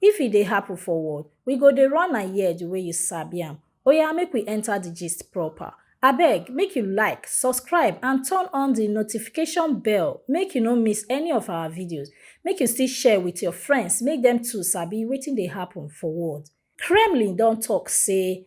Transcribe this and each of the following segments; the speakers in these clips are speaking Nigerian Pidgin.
If e dey happen for world, we go dey run am here the way you sabi am. Oya make we enter the gist proper. Abeg make you like, subscribe and turn on the notification bell make you no miss any of our videos. Make you still share with your friends make dem too sabi wetin dey happen for world. Kremlin don talk say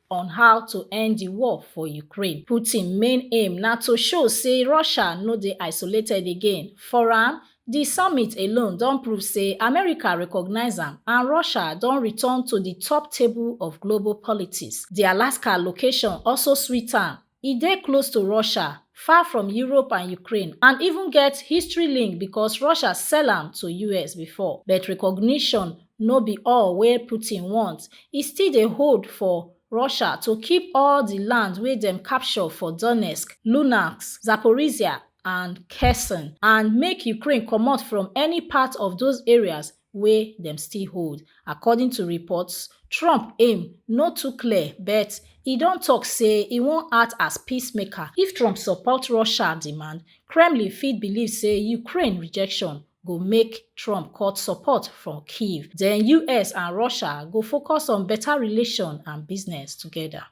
on how to end di war for ukraine putin main aim na to show say russia no dey isolated again for am di summit alone don prove say america recognise am and russia don return to di top table of global politics di alaska location also sweet am E dey close to Russia, far from Europe and Ukraine and even get history link because Russia sell am to US before. But recognition no be all wey Putin want, e still dey hold for Russia to keep all di land wey dem capture for Donetsk, Luhansk, Zaporizhzhia and Kherson and make Ukraine comot from any part of those areas wey dem still hold. According to reports, Trump aim no too clear but e don tok say e wan act as peacemaker. If Trump support Russia demand, Kremlin fit believe say Ukraine rejection go make Trump cut support from Kyiv. Den us and Russia go focus on better relation and business together.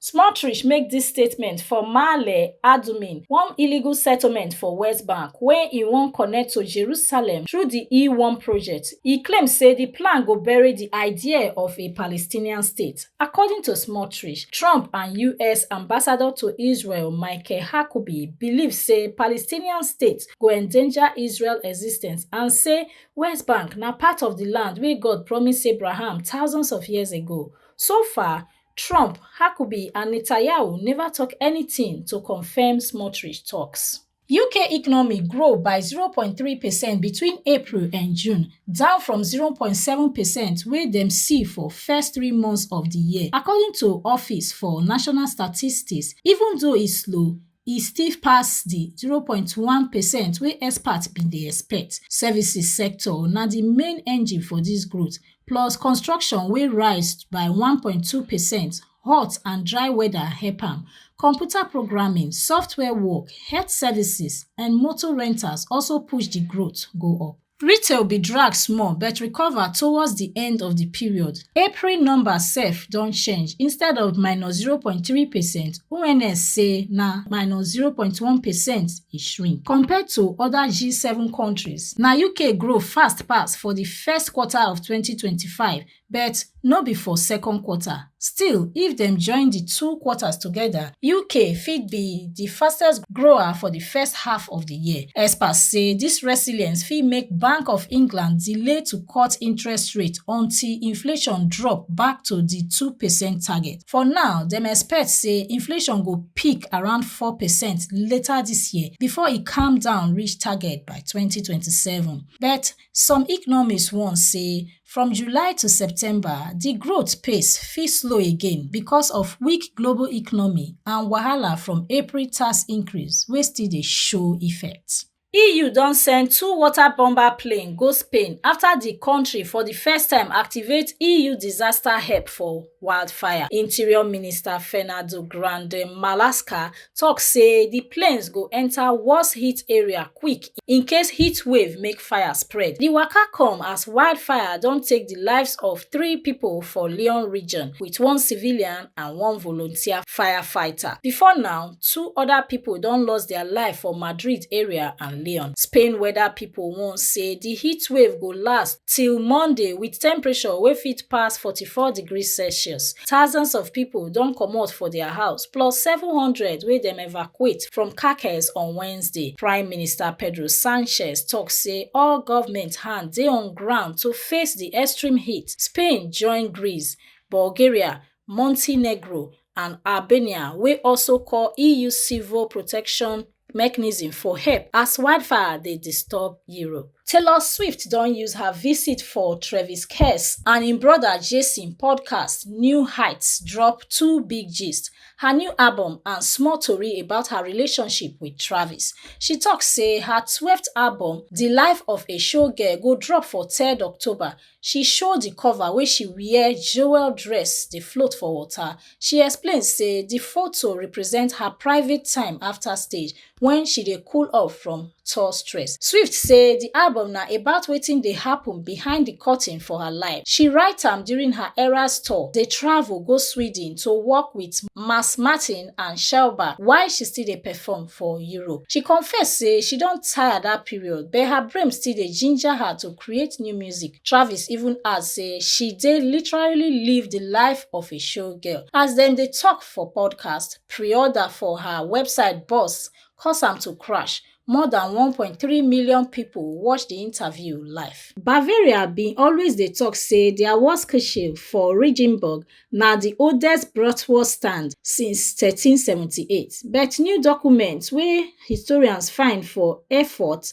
smartrich make dis statement for maale adumim one illegal settlement for west bank wey e wan connect to jerusalem through di e one project e claim say di plan go bury di idea of a palestinian state according to smartrich trump and us ambassador to israel michael hakubi believe say palestinian state go endanger israel existence and say west bank na part of di land wey god promise abraham thousands of years ago so far Trump, Huckabee and Netanyahu neva tok anytin to confam Smotrich toks. Uk economy grow by 0.3 percent between April and June, down from 0.7 percent wey dem see for first three months of di year, according to Office for National Statistics. Even though e slow, e stiff pass di 0.1 percent wey experts bin dey expect services sector na di main engine for dis growth plus construction wey rise by 1.2 percent hot and dry weather help am computer programming software work health services and motor rentals also push di growth go up retail bin drag small but recover towards di end of di period april numbers sef don change instead of minus 0.3 percent ons say na minus 0.1 percent e shrink compared to oda g7 kontris na uk grow fast pass for di first quarter of 2025 but no be for second quarter. Still, if dem join di two quarters together, UK fit be di fastest grower for di first half of di year. Experts say dis resilience fit make Bank of England delay to cut interest rate until inflation drop back to di 2 percent target. For now, dem expect say inflation go peak around 4 percent later dis year before e calm down reach target by 2027. But Some economists warn say from July to September, di growth pace fit slow again because of weak global economy and wahala from April tax increase wey still dey show effect. EU don send two water bomber plane go Spain afta di kontri for di first time activate EU disaster help for wildfire. Interior Minister Fernando Grande Marlaska tok say di planes go enta worse heat area quick in case heatwave make fire spread. Di waka come as wildfire don take di lives of three pipo for Lyon region, wit one civilian and one volunteer firefighter. Before now, two oda pipo don lost dia life for Madrid area and Lyon. Spain weather pipo warn say di heatwave go last till Monday wit temperature wey fit pass 44 degrees Celsius. Thousands of pipo don comot for dia house. plus 700 wey dem evacuate from Caracas on Wednesday. Prime Minister Pedro Sanchez tok say all government hand dey on ground to face di extreme heat. Spain join Greece, Bulgaria, Montenegro and Albania wey also call EU civil protection mechanism for help as wildfire dey disturb Europe. Taylor Swift don use her visit for Travis Kelce and im brother Jason podcast New Heights drop two big gist, her new album and small tori about her relationship with Travis. She talk say her 12th album, The Life of a Showgirl go drop for 3rd October, she show di cover wey she wear jewel dress dey float for water she explain say di foto represent her private time afta stage wen she dey cool off from tour stress swift say di album na about wetin dey happun behind di curtain for her life she write am during her eras tour dey travel go sweden to work wit mass martin and shelba while she still dey perform for europe she confess say she don tire dat period but her brain still dey ginger her to create new music. Travis even add say she dey literally live di life of a showgirl. As dem dey tok for podcast, pre-order for her website burst, cause am to crash. More than 1.3 million pipo watch di interview live. Bavaria bin always dey tok say dia Wurstkirche for Regenburg na di oldest bratwurst stand since 1378, but new documents wey historians find for Erfurt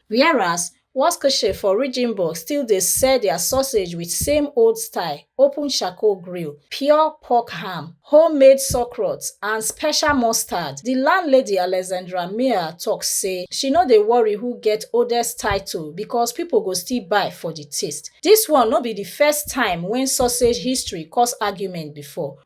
Whereas, Waschkesche for Regenburg still dey sell their sausage with same old style, open charcoal grill, pure pork ham, homemade sauerkraut and special mustard. The landlady Alexandra Mia talk say she no dey worry who get oldest title because people go still buy for the taste. This one no be the first time when sausage history cause argument before.